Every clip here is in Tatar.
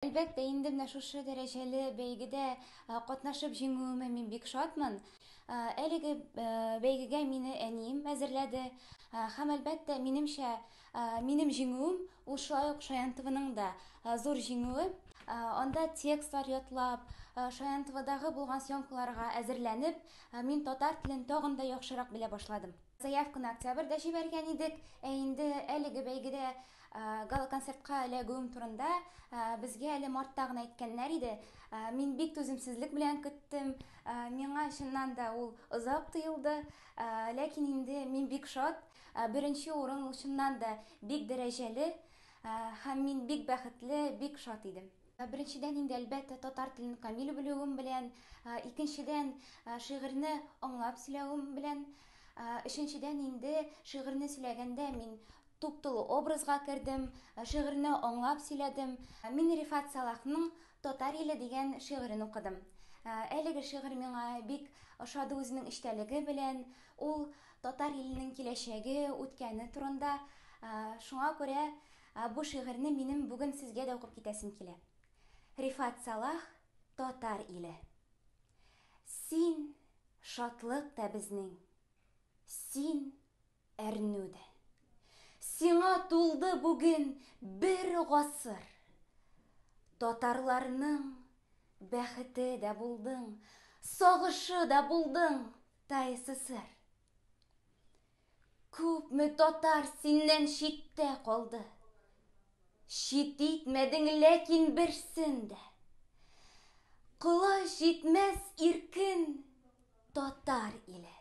Әлбәттә, инде менә шушы дәрәҗәле бәйгедә катнашып җиңүемә мин бик шатмын. Әлеге бәйгегә мине әнием әзерләде. Һәм, әлбәттә, минемчә, минем җиңүем, ул шулай ук Шаянтованың да зур җиңүе. Анда текстлар ятлап, Шаянтовадагы булган съемкаларга әзерләнеп, мин татар телен тагын да яхшырак белә башладым. Заявканы октябрьдә җибәргән идек, ә инде әлеге бәйгедә Гала-концертка эләгүем турында безгә әле мартта гына әйткәннәр иде. Мин бик түземсезлек белән көттем. Миңа чыннан да ул озак тоелды. Ләкин инде мин бик шат. Беренче урын ул чыннан да бик дәрәҗәле һәм мин бик бәхетле, бик шат идем. Беренчедән инде, әлбәттә, татар телен камил белүем белән, икенчедән, шигырьне аңлап сөйләвем белән, өченчедән инде, шигырьне сөйләгәндә мин Туп-тулы образга кердем, шигырьне аңлап сөйләдем. Мин Рифат Салахның Татар иле дигән шигырен укыдым. Әлеге шигырь миңа бик ошады үзенең эчтәлеге белән. Ул татар иленең киләчәге, үткәне турында. Шуңа күрә бу шигырьне минем бүген сезгә дә укып китәсем килә. Рифат Салах Татар иле. Син, шатлык та безнең. Син, Әрнү дә. Сиңа тулды бүген бер гасыр. Татарларның бәхете дә булдың, сагышы да булдың, ТАССР. Күпме татар синнән читтә калды. Чит итмәдең ләкин берсен дә. Колач җитмәс иркен татар иле.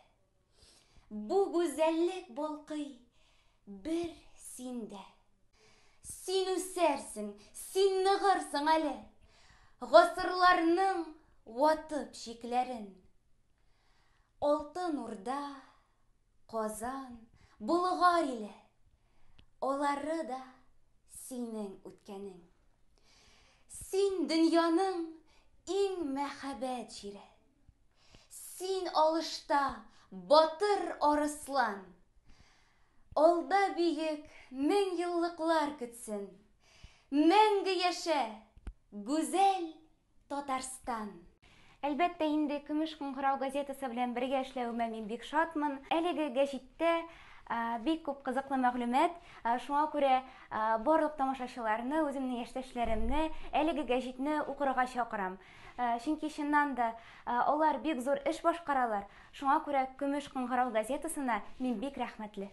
Бу гүзәллек балкый бер синдә. Син үсәрсең, син ныгырсың әле, Гасырларның ватып чикләрен. Алтын Урда, Казан, Болгар иле, Алары да синең үткәнең. Син дөньяның иң мәхәббәт җире. Син алышта батыр арыслан. Алда биек мең еллыклар көтсен. Мәңге яшә, гүзәл Татарстан. Әлбәттә инде, Көмеш кыңгырау газетасы белән бергә эшләвемә мин бик шатмын. Әлеге гәҗиттә бик күп кызыклы мәгълүмат, шуңа күрә барлык тамашачыларны, үземнең яшьтәшләремне әлеге гәҗитне укырга чакырам. Чөнки чыннан да алар бик зур эш башкаралар, шуңа күрә Көмеш кыңгырау газетасына мин бик рәхмәтле.